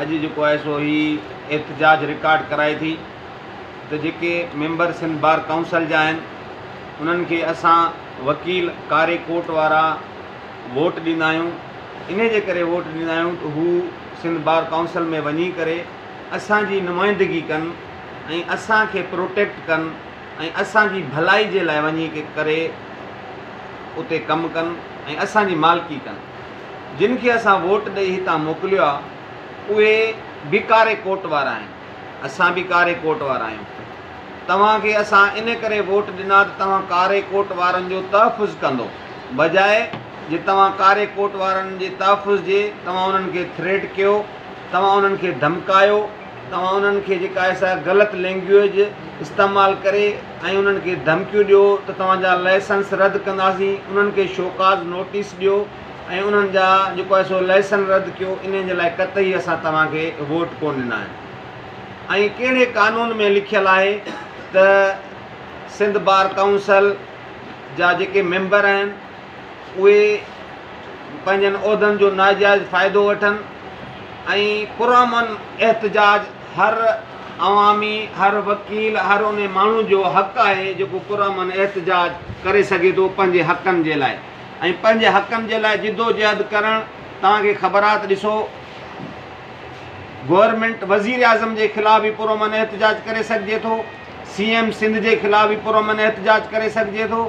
اڄ جيڪو آهي سو هي احتجاج رڪارڊ ڪرائي ٿي ته جيڪي ميمبر سنڌ بار ڪائونسل جا آهن انهن کي اسان وڪيل ڪاري ڪوٽ وارا ووٽ ڏيندا آهيون انهي جي ڪري ووٽ ڏيندا آهيون ته هو سنڌ بار ڪائونسل ۾ وڃي ڪري اسان جي نمائندگي ڪن ۽ اسان کي پروٽيڪٽ ڪن ۽ اسان جي ڀلائي جي لاء وڃي ڪري اتي ڪم ڪن ۽ اسان جي مالڪي ڪن. جن کي اسان ووٽ ڏئي هتان موڪليو آ اهي به ڪاري ڪوٽ وارا آهن اسان به ڪاري ڪوٽ وارا آهيون توهان کي اسان ان ڪري ووٽ ڏنا ته توهان ڪاري ڪوٽ وارن جو تحفظ ڪندو بجاء جي توهان ڪاري ڪوٽ وارن جي تحفظ جي توهان انهن کي ٿريٽ ڪيو توهان انهن کي ڌمڪايو توهان انهن کي جيڪا اهي سا غلط لينگويج استعمال ڪري ۽ انهن کي ڌمڪيون ڏيو ته توهان جا لائسنس رد ڪنداسين انهن کي شوڪاز نوٽيس ڏيو ۽ انهن جا جيڪو آهي سو لائسن رد ڪيو انهن جي لاء قطعي اسان توهان کي ووٽ ڪون ڏنا آهن ۽ ڪهڙي قانون ۾ لکيل آهي ته سنڌ بار ڪائونسل جا جيڪي ميمبر آهن اهي پنهنجن عهدن جو ناجائز فائدو وٺن ۽ پرامن احتجاج هر عوامي، هر وڪيل، هر ان ماڻهو جو حق آهي جيڪو پرامن احتجاج ڪري سگهي ٿو پنهنجي حقن جي لاء ۽ پنهنجي حقن جي لاء جدوجهد ڪرڻ توهان کي خبرات ڏسو گورنمينٽ وزيراعظم جي خلاف به پرامن احتجاج ڪري سگهجي ٿو سي ايم سنڌ جي خلاف به پرامن احتجاج ڪري سگهجي ٿو.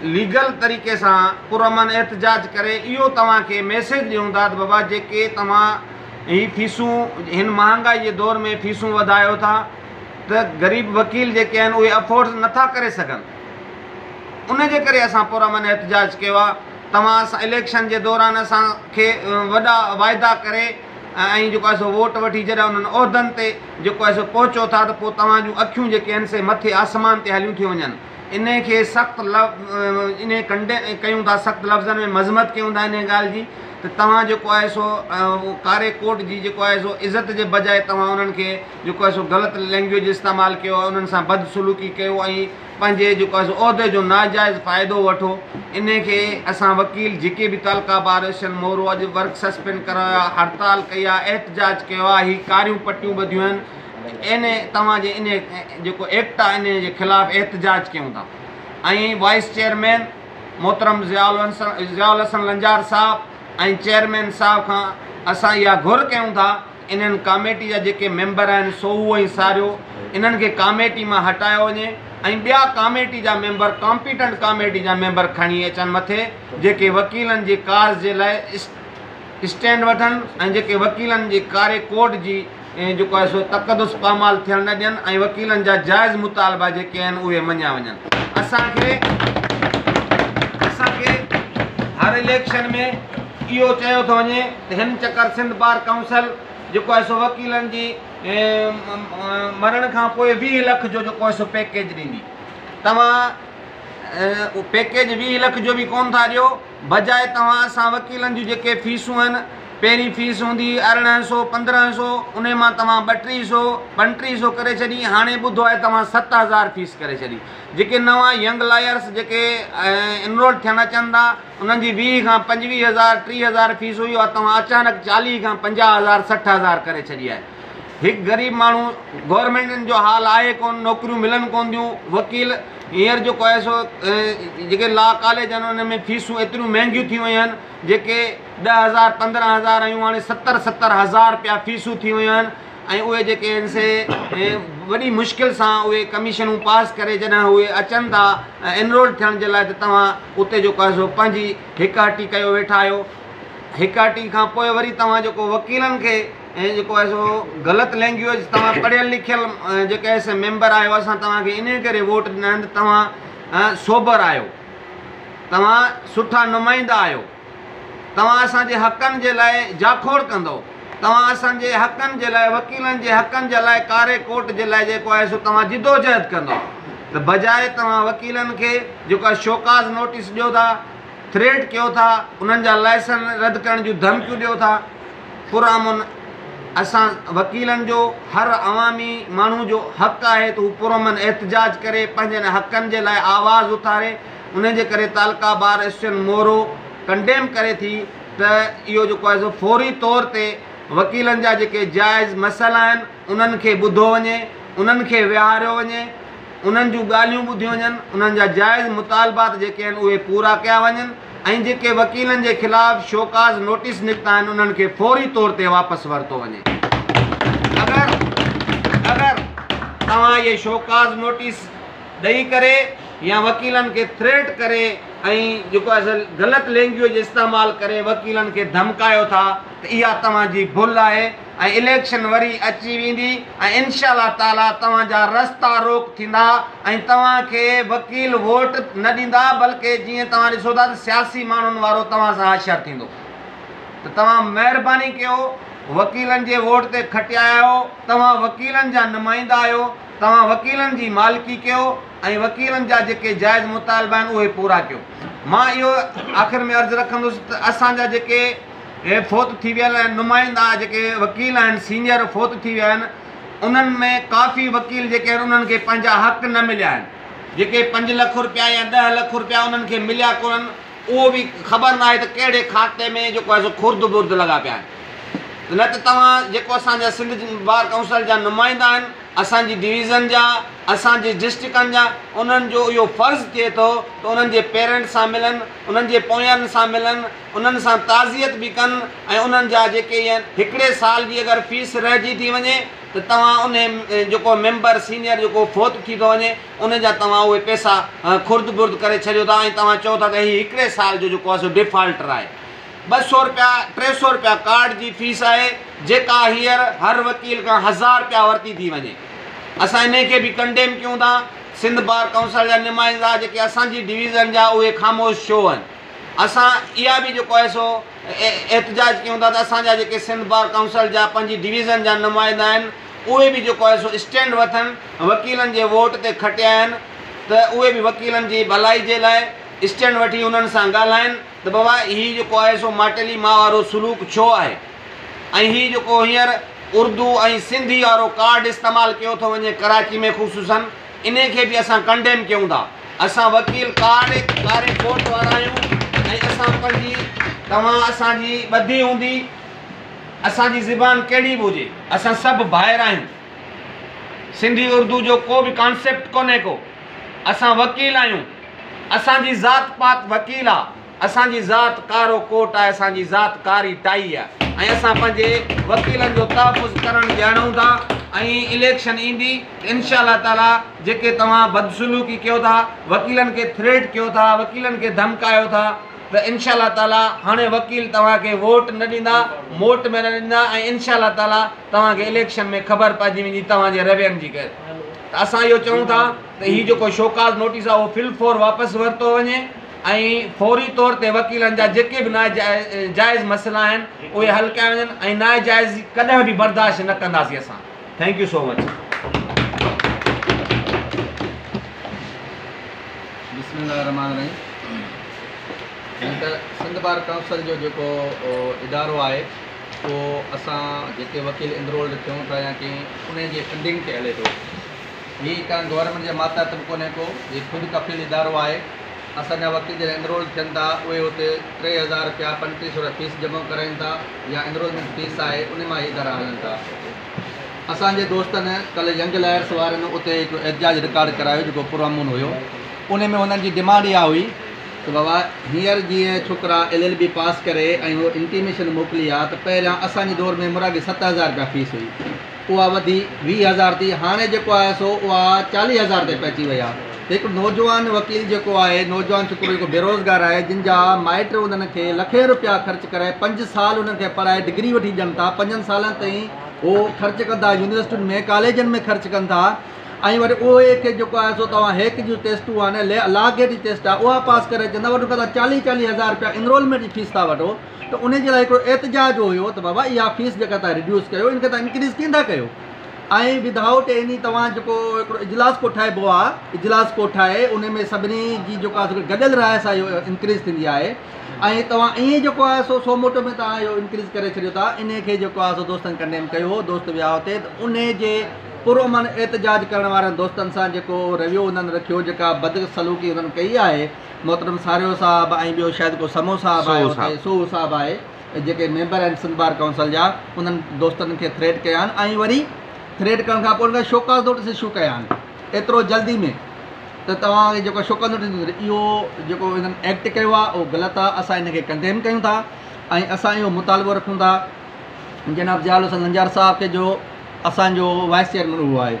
ليگل طريقي سان پرامن احتجاج ڪري اهو توهان کي ميسيج ڏيون داد بابا جيڪي توهان هي فيسون هن مهانگائي جي دور ۾ فيسون وڌايو ٿا ته غريب وڪيل جيڪي آهن اهي افورڊ نٿا ڪري سگهن ان جي ڪري اسان پرامن احتجاج ڪيو آهي توهان سان اليڪشن جي دوران اسان کي وڏا واعدا ڪري ۽ جيڪو آهي سو ووٽ وٺي جڏهن انهن عهدن تي جيڪو آهي سو پهچو ٿا ته پوء توهان جون اکيون جيڪي آهن سي مٿي آسمان تي هليون ٿيون وڃن انهيء کي سخت انهيء ڪنڊين ۽ ڪيون ٿا سخت لفظن ۾ مذمت ڪيون ٿا انهيء ڳالهه جي ته توهان جيڪو آهي سو ڪاري ڪوٽ جي جيڪو آهي سو عزت جي بجاء توهان انهن کي جيڪو آهي سو غلط لينگويج استعمال ڪيو انهن سان بد سلوڪي ڪيو ۽ پنهنجي جيڪو آهي سو عهدي جو ناجائز فائدو وٺو انهيء کي اسان وڪيل جيڪي به تعلقه بار اسٽن مورو اڄ ورڪ سسپينڊ ڪرايو آهي هڙتال ڪئي آهي احتجاج ڪيو آهي هي ڪاريون پٽيون ٻڌيون آهن اين اي توهان جي ان جيڪو ايڪٽ آهي ان جي خلاف احتجاج ڪيون ٿا ۽ وائيس چيئرمين محترم ضياء الحسن لنجار صاحب ۽ چيئرمين صاحب کان اسان اها گهر ڪيون ٿا انهن ڪاميٽي جا جيڪي ميمبر آهن سوهو ۽ ساريو انهن کي ڪاميٽي مان هٽايو وڃي ۽ ٻيا ڪاميٽي جا ميمبر ڪامپيٽنٽ ڪاميٽي جا ميمبر کڻي اچن مٿي جيڪي وڪيلن جي ڪاز جي لاء اسٽينڊ وٺن ۽ جيڪي وڪيلن جي ڪاري ڪورٽ جي جيڪو آهي سو تقدس پامال ٿيڻ نه ڏين ۽ وڪيلن جا جائز مطالبا جيڪي آهن اهي مڃيا وڃن اسان کي اسان کي هر اليڪشن ۾ اهو چيو ٿو وڃي ته هن چڪر سنڌ بار ڪائونسل جيڪو آهي سو وڪيلن جي مرڻ کان پوء ويهه لک جو جيڪو آهي سو پيڪيج ڏيندي توهان پيڪيج ويهه لک جو به ڪون ٿا ڏيو بجاء توهان اسان وڪيلن جون جيڪي فيسون هن، پهرين فيس هوندي هئي ارڙهن سو، پندرهن سو، انهي مان توهان ٻٽيهه سو، ٻنٽيهه سو ڪري ڇڏي، هاڻي ٻڌو آهي توهان ست هزار فيس ڪري ڇڏي. جيڪي نوان ينگ لائرس جيڪي انرولڊ ٿيڻ اچن ٿا، انهن جي ويهه کان پنجويهه هزار، ٽيهه هزار فيس هئي، اها توهان اچانڪ چاليهه کان پنجاهه هزار، سٺ هزار ڪري ڇڏي آهي. هڪ غريب ماڻهو گورنمينٽن جو حال آهي ڪونه نوڪريون ملن ڪونه ٿيون وڪيل هينئر جيڪو آهي سو جيڪي لا ڪاليج آهن ان ۾ فيسون ايتريون مهنگيون ٿي ويون آهن جيڪي ڏهه هزار پندرهن هزار آيون هاڻي ستر ستر هزار رپيا فيسون ٿي ويون آهن ۽ اهي جيڪي آهن سي وڏي مشڪل سان اهي ڪميشنون پاس ڪري جڏهن اهي اچن ٿا انرول ٿيڻ جي لاء ته توهان اتي جيڪو آهي سو پنهنجي هڪ هٽي ڪيو ويٺا آهيو هڪ هٽي کان پوء وري توهان جيڪو وڪيلن کي ۽ جيڪو آهي سو غلط لينگويج توهان پڙهيل لکيل جيڪي آهي سي ميمبر آهيو اسان توهان کي انهي ڪري ووٽ ڏنا آهن ته توهان سوبر آهيو توهان سٺا نمائندا آهيو توهان اسان جي حقن جي لاء جاکوڙ ڪندو توهان اسان جي حقن جي لاء وڪيلن جي حقن جي لاء ڪاري ڪوٽ جي لاء جيڪو آهي سو توهان جدوجهد ڪندو ته بجاء توهان وڪيلن کي جيڪو آهي شوڪاز نوٽيس ڏيو ٿا ٿريٽ ڪيو ٿا انهن جا لائسن رد ڪرڻ جون ڌمڪيون ڏيو ٿا پرامن اسان وڪيلن جو هر عوامي ماڻهو جو حق آهي ته هو پرامن احتجاج ڪري پنهنجن حقن جي لاء آواز اٿاري انهي جي ڪري تعلقه بار ايسوسيئن مورو ڪنڊيم ڪري ٿي ته اهو جيڪو آهي سو فوري طور تي وڪيلن جا جيڪي جائز مسئلا آهن انهن کي ٻڌو وڃي انهن کي ويهاريو وڃي انهن جون ڳالهيون ٻڌيون وڃن انهن جا جائز مطالبات جيڪي آهن اهي پورا ڪيا وڃن. ۽ جيڪي وڪيلن جي خلاف شوڪاز نوٽيس نڪتا آهن انهن کي فوري طور تي واپس ورتو وڃي اگر اگر توهان اهي شوڪاز نوٽيس ڏئي ڪري يا وڪيلن کي ٿريٽ ڪري ۽ جيڪو اصل غلط لينگويج استعمال ڪري وڪيلن کي ڌمڪايو ٿا ته اها توهان جي ڀل آهي ۽ اليڪشن وري اچي ويندي ۽ انشاء الله تعالي توهان جا رستا روڪ ٿيندا ۽ توهان کي وڪيل ووٽ نه ڏيندا بلڪه جيئن توهان ڏسو ٿا ته سياسي ماڻهن وارو توهان سان حشر ٿيندو ته توهان مهرباني ڪيو وڪيلن جي ووٽ تي کٽيا آهيو توهان وڪيلن جا نمائندا آهيو توهان وڪيلن جي مالڪي ڪيو ۽ وڪيلن جا جيڪي جائز مطالبا آهن اهي پورا ڪيو مان اهو آخر ۾ عرض رکندس ته اسان جا جيڪي اهي فوت ٿي ويل نمائندا جيڪي وڪيل آهن سينئر فوت ٿي ويا آهن انهن ۾ ڪافي وڪيل جيڪي آهن انهن کي پنهنجا حق نه مليا آهن جيڪي پنج لک رپيا يا ڏهه لک رپيا انهن کي مليا ڪونهن اهو به خبر ناهي ته ڪهڙي کاتي ۾ جيڪو آهي سو خرد برد لڳا پيا آهن نه ته توهان جيڪو اسان جا سنڌ بار ڪائونسل جا نمائندا آهن اسان جي ڊويزن جا اسان جي ڊسٽرڪن جا انهن جو اهو فرض ٿئي ٿو ته انهن جي پيرنٽس سان ملن انهن جي پويان سان ملن انهن سان تعزيت به ڪن ۽ انهن جا جيڪي ين هڪڙي سال جي اگر فيس رهجي ٿي وڃي ته توهان انهي جيڪو ميمبر سينئر جيڪو فوت ٿي ٿو وڃي انهي جا توهان اهي پئسا خرد برد ڪري ڇڏيو ٿا ۽ توهان چئو ٿا ته هي هڪڙي سال جو جيڪو آهي سو ڊيفالٽر آهي ٻه سئو رپيا ٽي سئو رپيا ڪارڊ جي فيس آهي جيڪا هيئر هر وڪيل کان هزار رپيا ورتي ٿي وڃي اسان انهي کي به ڪنڊيم ڪيون ٿا سنڌ بار ڪائونسل جا نمائندا جيڪي اسان جي ڊويزن جا اهي خاموش ڇو هن. اسان اها به جيڪو آهي سو احتجاج ڪيون ٿا ته اسان جا جيڪي سنڌ بار ڪائونسل جا پنهنجي ڊويزن جا نمائندا آهن اهي به جيڪو آهي سو اسٽينڊ وٺن وڪيلن جي ووٽ تي کٽيا آهن ته اهي به وڪيلن جي ڀلائي جي لاء اسٽينڊ وٺي انهن سان ڳالهائن ته بابا هي جيڪو آهي سو ماٽيلي ماء وارو سلوڪ ڇو آهي ۽ هي جيڪو هينئر اردو ۽ سنڌي وارو ڪارڊ استعمال ڪيو ٿو وڃي ڪراچي ۾ خصوصن انهي کي به اسان ڪنڊيم ڪيون ٿا. اسان وڪيل ڪارڊ ڪاري ڪورٽ وارا آهيون ۽ اسان پنهنجي توهان اسان جي ٻڌي هوندي اسان جي زبان ڪهڙي به هجي اسان سڀ ڀائر آهيون سنڌي اردو جو ڪو به ڪانسيپٽ ڪونهي ڪو اسان وڪيل آهيون اسان جي ذات پات وڪيل آ. اسان جي ذات ڪارو ڪوٽ آهي، اسان جي ذات ڪاري ٽائي آهي ۽ اسان پنهنجي وڪيلن جو تحفظ ڪرڻ ڄاڻون ٿا ۽ اليڪشن ايندي ته انشاء الله تعالي جيڪي توهان بدسلوڪي ڪيو ٿا، وڪيلن کي ٿريٽ ڪيو ٿا، وڪيلن کي ڌمڪايو ٿا ته انشاء الله تعالي هاڻي وڪيل توهان کي ووٽ نه ڏيندا، موٽ ۾ نه ڏيندا ۽ انشاء الله تعالي توهان کي اليڪشن ۾ خبر پئجي ويندي توهان جي روين جي ته اسان اهو چئون ٿا. ته هي جيڪو شوڪاز نوٽيس آهي اهو فل فور واپس ورتو وڃي ۽ فوري طور تي وڪيلن جا جيڪي به ناجائز مسئلا آهن اهي حل ڪيا وڃن ۽ ناجائزي ڪڏهن به برداشت نه ڪنداسين اسان ٿينڪ يو سو مچ هي ڪنهن گورنمينٽ جي ماتحت به ڪونهي ڪو، هي خود ڪفيل ادارو آهي. اسان جا وڪيل جڏهن انرولڊ ٿين ٿا، اهي اتي ٽي هزار رپيا، پنٽيهه سو رپيا فيس جمع ڪرائين ٿا يا انرولمينٽ فيس آهي، انهي مان هي ادارا هلن ٿا. اسان جي دوستن ڪلهه ينگ لائرس وارن اتي هڪ احتجاج رڪارڊ ڪرايو جيڪو پرامن هيو. انهي ۾ هنن جي ڊيمانڊ اها هئي ته بابا هينئر جيئن ڇوڪرا ايل ايل بي پاس ڪري ۽ هو انٽيميشن موڪلي ها ته پهريان اسان جي دور ۾ مراڳي ست هزار رپيا فيس هئي، اها وڌي ويهه هزار ٿي هاڻي جيڪو آهي سو اها چاليهه هزار تي پهچي وئي آهي ته هڪ نوجوان وڪيل جيڪو آهي نوجوان ڇوڪرو جيڪو بيروزگار آهي جن جا مائٽ انهن کي لکين رپيا خرچ ڪرائي پنج سال انهن کي پڙهائي ڊگري وٺي ڏين ٿا پنجن سالن تائين هو خرچ ڪن ٿا يونيورسٽين ۾ ڪاليجن ۾ خرچ ڪن ٿا ۽ وري اهي کي جيڪو آهي سو توهان هيڪ جون ٽيسٽون آهن لا گيٽ جي ٽيسٽ آهي اها پاس ڪري اچن ٿا وري ان کان چاليهه چاليهه هزار رپيا انرولمينٽ جي فيس ٿا وٺو ته ان جي لاء هڪڙو احتجاج اهو هيو ته بابا اها فيس جيڪا توهان ريڊيوس ڪيو ان کي توهان انڪريز ڪين ٿا ڪيو ۽ ود آئوٽ ايني توهان جيڪو هڪڙو اجلاس ڪوٺائبو آهي اجلاس ڪوٺائي ان ۾ سڀني جي جيڪو آهي سو گڏيل راء سان اهو انڪريز ٿيندي آهي ۽ توهان ائين جيڪو آهي سو سو موٽو ۾ توهان اهو انڪريز ڪري ڇڏيو ٿا ان کي جيڪو آهي سو دوستن ڪنڊيم ڪيو هو دوست ويا اتي ته ان جي پرامن احتجاج ڪرڻ وارن دوستن سان جيڪو رويو انهن رکيو جيڪا بدسلوڪي انهن ڪئي آهي محترم ساريو صاحب ۽ ٻيو شايد ڪو سمو صاحب آهي اتي سوهو صاحب آهي جيڪي ميمبر آهن سنڌ بار ڪائونسل جا انهن دوستن کي ٿريٽ ڪيا آهن ۽ وري ٿريٽ ڪرڻ کان پوء انهن کي شوڪاز نوٽس اشو ڪيا آهن ايترو جلدي ۾ ته توهان کي جيڪو شوڪاز نوٽس ڏنو اهو جيڪو هنن ايڪٽ ڪيو آهي اهو غلط آهي اسان ان کي ڪنڊيم ڪيون ٿا ۽ اسان اهو مطالبو رکون ٿا جناب ضياء الحسن لنجار صاحب کي جو اسانجو وائس چيئرمين اهو آهي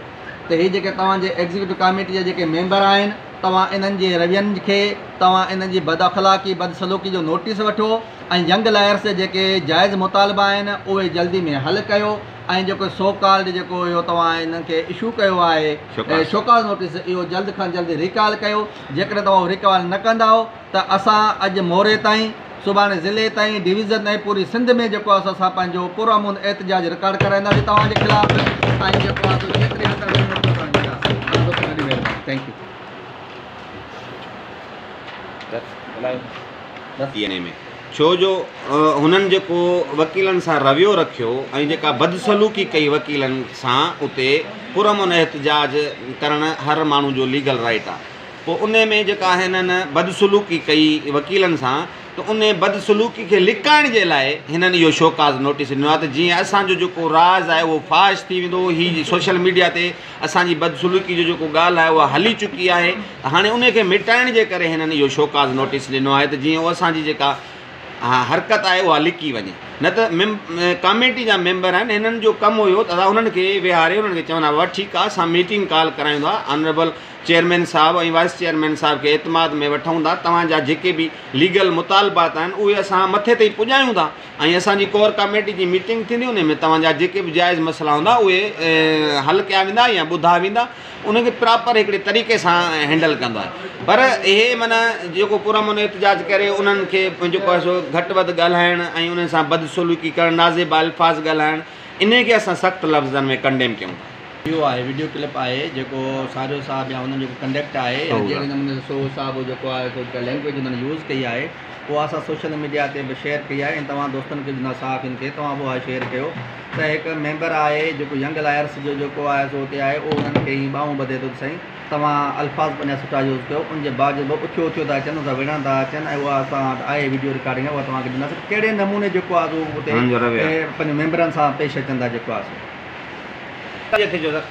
ته هي جيڪي توهان جي ايگزيڪيوٽو ڪاميٽي جا جيڪي ميمبر آهن توهان انهن جي روين کي توهان انهن جي بد اخلاقي بد سلوڪي جو نوٽيس وٺو ۽ ينگ لائرس جا جيڪي جائز مطالبا آهن اهي جلدي ۾ حل ڪيو ۽ جيڪو سو ڪالڊ جيڪو اهو توهان انهن کي اشو ڪيو آهي شوڪاز نوٽيس اهو جلد کان جلد ريڪال ڪيو جيڪڏهن توهان اهو ريڪال نه ڪندائو ته اسان اڄ موري تائين، سڀاڻي ضلعي تائين، ڊويزن ۽ پوري سنڌ ۾ جيڪو آسو اسان پنهنجو پرامن احتجاج رڪارڊ ڪرائينداسين توهان جي خلاف ۽ جيڪو آسو جيتري اندر وڃي ايترو ڪرڻ جي آسي. تمام دوستن وڏي مهرباني. Thank you. ٿي انهي ۾ ڇو جو هنن جيڪو وڪيلن سان رويو رکيو ۽ جيڪا بدسلوڪي ڪئي وڪيلن سان اتي پرامن احتجاج ڪرڻ هر ماڻهو جو ليگل رائيٽ آ. پوء انهي ۾ جيڪا هنن بدسلوڪي ڪئي وڪيلن سان ته انهي بدسلوڪي کي لڪائڻ جي لاء هنن اهو شوڪاز نوٽيس ڏنو آهي ته جيئن اسان جو جيڪو راز آهي اهو فاش ٿي ويندو هي سوشل ميڊيا تي اسان جي بدسلوڪي جو جيڪو ڳالهه آهي اها هلي چڪي آهي ته هاڻي انهي کي مٽائڻ جي ڪري هنن اهو شوڪاز نوٽيس ڏنو آهي ته جيئن اسان جي جيڪا حرڪت آهي اها لڪي وڃي نه ته ڪاميٽي جا ميمبر آهن هنن جو ڪم هيو ته اسان هنن کي ويهاري هنن کي چوندا هئا ٺيڪ آهي اسان ميٽنگ ڪال ڪرايون ٿا آنريبل چيئرمين صاحب ۽ وائيس چيئرمين صاحب کي اعتماد ۾ وٺون ٿا توهان جا جيڪي به ليگل مطالبات آهن اهي اسان مٿي تائين پڄايون ٿا ۽ اسان جي ڪور ڪاميٽي جي ميٽنگ ٿيندي انهي ۾ توهان جا جيڪي به جائز مسئلا هوندا اهي حل ڪيا ويندا يا ٻڌا ويندا انهن کي پراپر هڪڙي طريقي سان هينڊل ڪندو آهي پر اهي من جيڪو پر امن احتجاج ڪري انهن کي پنهنجو پئسو گهٽ وڌ ڳالهائڻ ۽ انهن سان بدسلوڪي ڪرڻ نازيبا الفاظ ڳالهائڻ انهيء کي اسان سخت لفظن ۾ ڪنڊيم ڪيون ٿا. اهو آهي وڊيو ڪلپ آهي جيڪو سارو صاحب يا انهن جيڪو ڪنڊڪٽ آهي يا جهڙي نموني سان سوهو صاحب جيڪو آهي سو جيڪا لينگويج انهن يوز ڪئي آهي اها اسان سوشل ميڊيا تي به شيئر ڪئي آهي ۽ توهان دوستن کي جنا صحافين کي توهان به اها شيئر ڪيو ته هڪ ميمبر آهي جيڪو ينگ لائرس جو جيڪو آهي سو اتي آهي اهو انهن کي ائين ٻانهون ٻڌي ٿو ته سائين توهان الفاظ پنهنجا سٺا يوز ڪيو ان جي باوجود به اٿيو اٿيو ٿا اچن سا وڙهڻ ٿا اچن ۽ اها اسان وٽ آهي وڊيو رڪارڊنگ اها توهان کي ڏينداسين ڪهڙي نموني جيڪو آهي سو اتي پنهنجي ميمبرن سان پيش اچن ٿا جيڪو آهي سو جي ٿي جو سر.